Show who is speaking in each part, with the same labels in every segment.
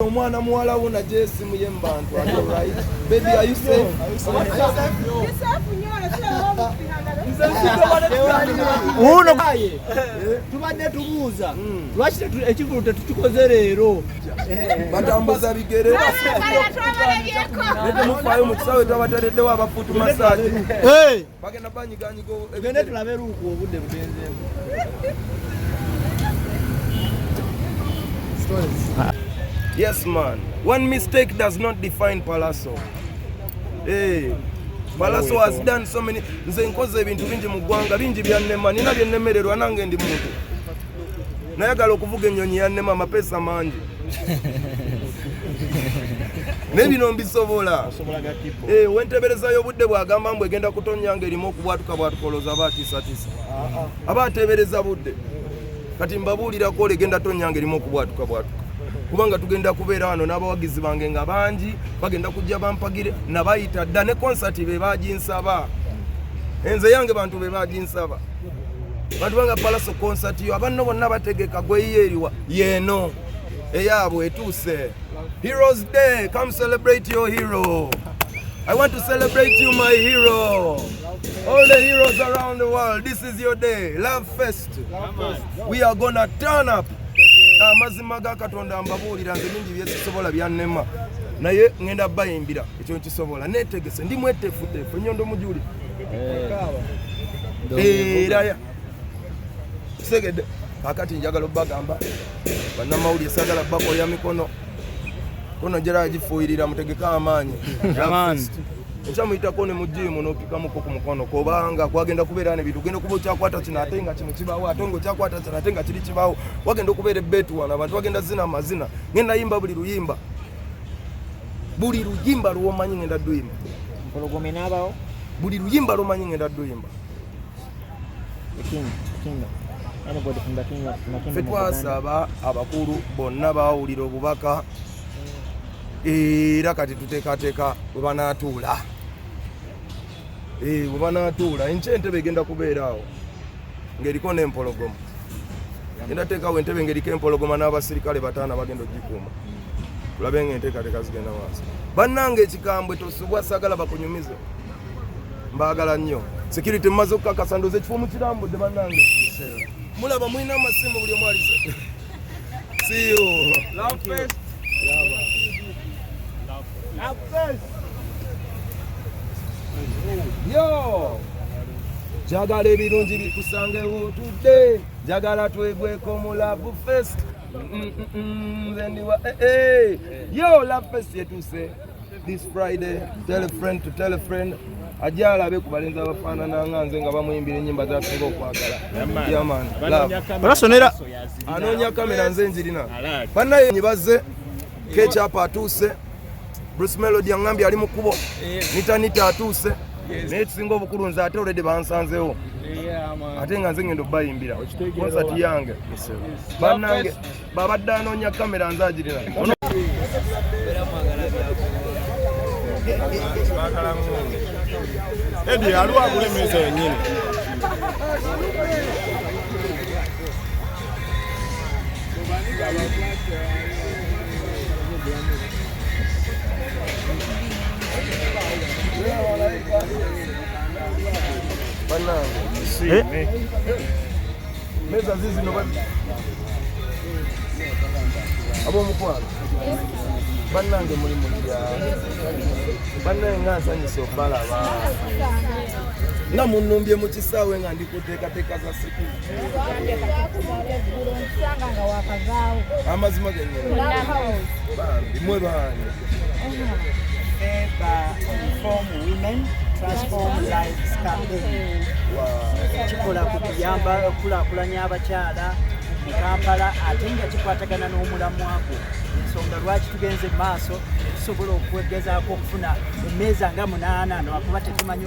Speaker 1: omwana muwala wo najo esimu ye mubantu baby are you safe
Speaker 2: uno tubadde tubuuza lwaki ekivulu tetukikoze leero batambuza
Speaker 1: bigere netemufayo mu kisawe twabatereddewo abafuutu masaji bagenda
Speaker 2: banyiganyiga
Speaker 1: gende tulabe luuku obudde bugenzeemu Yes, man. One mistake does not define Palazzo. Hey. Eh, Palazzo has done so many. Nze nkoze ebintu bingi mu ggwanga bingi byannema nina byennemererwa nange ndi muntu nayagala okuvuga ennyonyi yannema amapeesa mangi naye bino mbisobola eh, wenteberezayo obudde bwagamba mbu egenda kutonya nga erimu okubwatuka bwatukoloza aba atiisatiisa aba atebereza budde kati mbabuulirako olegenda tonya nga erimu okubwatuka bwatuka kubanga tugenda kubeera wano n'abawagizi bange nga bangi bagenda kujja bampagire nabayita dda ne konsati be baginsaba enze yange bantu be baginsaba bantu banga palaso concert yo abanno bonna bategeka gweyiyo eriwa yeeno eyaabwe etuuse heroes day come celebrate your hero i want to celebrate you my hero all the heroes around the world this is your day love fest we are gonna turn up amazima ga katonda mbabuulira nze bingi byesisobola byannema naye ŋenda bayimbira ekyo nkisobola netegese ndi mwetefutefu enyondo mujulire eraya kitegedde kakati njagala obagamba banamawulire sagala bakoya mikono kono njera agifuuyirira mutegeke amaanyi ekyamuyitako ne mujiimu nopikamuko ku mukono kubanga kwagenda kubeera ne bintu genda okuba okyakwata kino ate nga kino kibaawo ate nga okyakwata kino ate nga kiri kibaawo wagenda okubeera ebbeetuwana abantu bagenda zina amazina ngenda yimba buli luyimba buli luyimba lwomanyi ngenda duyimba mpologome nabawo buli luyimba lwomanyi ngenda duyimba fe twasaba abakulu bonna bawulira obubaka era kati tuteekateeka bwe banatuula eh, we banaatuula enkya entebe egenda kubeera awo ng'eriko n'empologoma genda teekawo entebe ng'eriko empologoma n'abasirikale bataana bagenda okugikuuma tulabe nga enteekateeka zigenda maaso bannanga ekikambwe tosubwa sagala bakunyumize mbaagala nnyo security mumaze okukakasa ndoza ekifo mukirambudde bannange mulaba mulina amasimu buli omu alise siyo njagala ebirungi bikusange wotudde njagala twegweko mu love fest nze ndiwa eh, eh. yo love fest yetuuse this friday tell a friend to tell a friend ajja alabe ku balenzi abafaanana nga nze nga bamuyimbira enyimba zasinga okwagala
Speaker 2: anoonya
Speaker 1: kamera nze njirina banaye bazze Kecapu atuuse, Bruce Melody angambye ali mu kkubo, Nita Nita atuuse naye tusinga obukulu nze ate olede bansanzewo ate nga nze ngenda obayimbira konsati yange banange babadde anoonya kamera nze agirina
Speaker 3: edi aliwo agula emeza yenyini
Speaker 1: Eh? meza zizi no abomukwano bannange muli mulya bannange nga nsanyusa okubalaba nga munnumbye mu kisaawe nga ndi kuteekateeka za amazima imwe bani
Speaker 4: kikola ku kuyamba okukulakulanya abakyala mu kampala ate nga kikwatagana n'omulamwa gwo ensonga lwaki tugenze mu maaso tusobola okwegezaako okufuna emmeeza nga munaana nakuba tetumanyi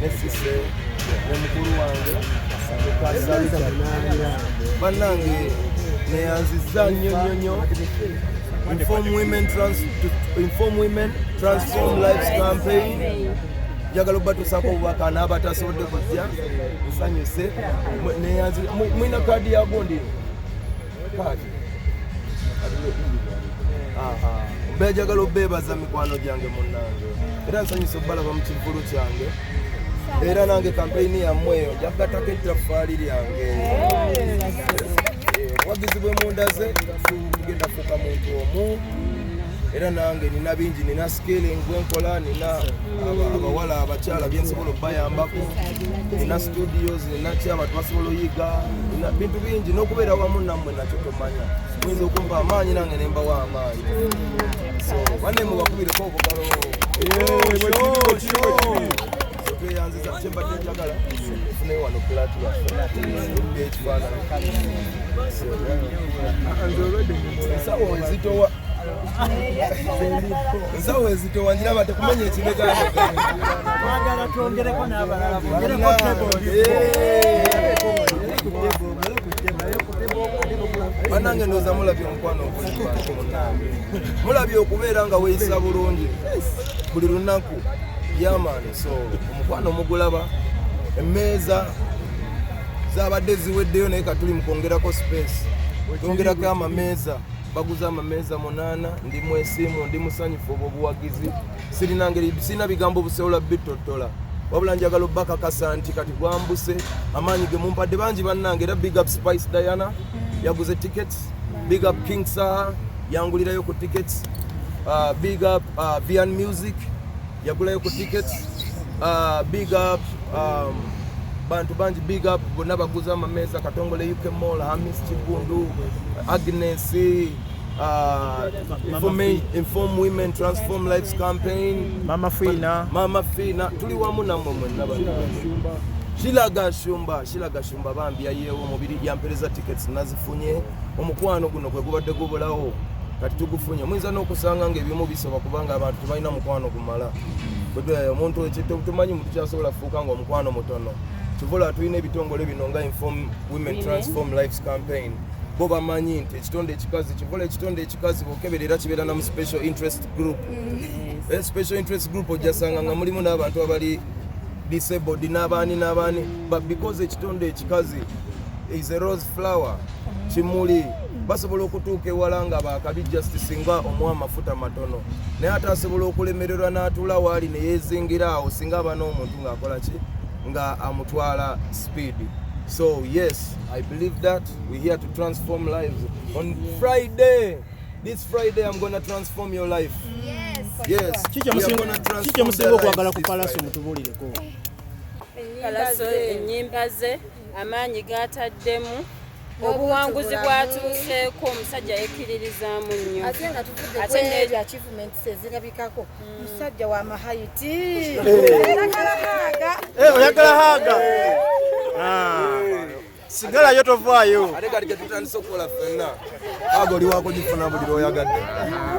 Speaker 1: ne sise ne mukulu wange bannange neyanziza nnyo nnyo nnyo inform women trans inform women transform lives campaign njagala obatusaako obubaka n'abatasobodde kujja nsanyuse mwina kaadi yagundi mba njagala obeebaza mikwano gyange munnange era nsanyusa okubalaba mu kivulu kyange era nange kampeyini yammwe eyo njakugatako ettaffaali lyange obuwagizi bwe mundaze tugenda fuuka muntu omu era nange nina bingi nina scaling gwenkola nina abawala abakyala byensobola okubayambako nina studios nina ki abantu basobola oyiga nina bintu bingi n'okubeera wamu nammwe nakyo tomanya muyinza okumpa amaanyi nange nembawo amaanyi so banne mubakubireko obugalo tweyanziza kyembadde njagala fune wano pulati yaekifaananyi nze olwedde nsawo nzitowa ensawo ezitowanjira bate kumenya ekibegaaagala
Speaker 4: twongereko n'abalala bongereko
Speaker 1: banange ndoza mulabye omukwano ogulibantu munange mulabye okubeera nga weyisa bulungi buli lunaku yamaani so omukwano mugulaba emmeeza zabadde ziweddeyo naye katuli mukwongerako space twongerako amameeza baguze amameeza munaana ndi mwesiimu ndi musanyufu obwo obuwagizi sirina ngeri sirina bigambo buseola bitottola wabula njagala obakakasa nti kati gwambuse amaanyi ge mumpadde bangi bannange era big up spice diana yaguze tickets big up king saha yangulirayo ku tickets uh, big up uh, vian music yagulayo ku tickets uh, big up um, bantu bangi big up bonna baguza amameeza katongole uk mall hamis kigundu agnes uh, inform women transform lives campaign mama fina mama fina tuli wamu namwe mwenna bantu Shilaga Shumba, Shilaga Shumba bambi yayewo mubiri yampereza tickets nazifunye omukwano guno kwe gubadde gubulawo kati tugufunye muyinza n'okusanga ng'ebimu soba kubanga abantu tebalina mukwano gumala eh, omuntu tumanyi muntu kyasobola kufuuka nga omukwano mutono kivula tulina ebitongole bino nga inform women transform lives campaign bo bamanyi nti ekitonde ekikazi kivula ekitonde ekikazi bokeberera kibeera namu special interest group mm. eh, special interest group ojasanga nga mulimu n'abantu abali disabled n'abaani n'abaani but because ekitonde ekikazi is a rose flower kimuli basobola okutuuka ewala nga bakabi just singa omuwa amafuta matono naye ate asobola okulemererwa n'atuula waali ne yeezingira awo singa aba n'omuntu ng'akola ki nga amutwala speed so yes i believe that we here to transform lives on friday this friday i'm gonna transform your life yes yes
Speaker 2: kikyemusinga okwagala ku palaso mutubulireko palaso
Speaker 5: enyimba ze amaanyi gaataddemu obuwanguzi bwatuuseeko omusajja yekkiririzaamu nnyo ate nga tuvudde neeri
Speaker 6: achievements ezirabikako hmm. musajja wa mahayiti
Speaker 2: oyagala haaga sigala yo tovaayo ate kati ketutandise
Speaker 1: okukola fenna aga oli wakugifuna buli lwoyagadde ah,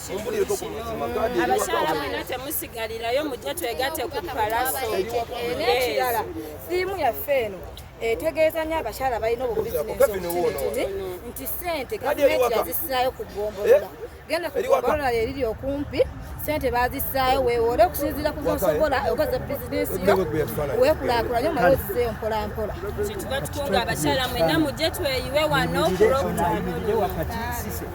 Speaker 6: abakyala mwenna temusigalirayo mujje twegate ku palaso n'ekirala siimu yaffe eno etegeeza nyo abakyala balina obubizinesi nti sente gavumenti yazisaayo ku ggombolola eh? genda ku ggombolola eriri okumpi sente bazisaayo wewoole okusinziira ku zosobola okoze bizinesi yo wekulakulanye omala ozizeeyo mpolampola kyetuba tukunga
Speaker 5: abakyala mwena mujje tweyiwe wano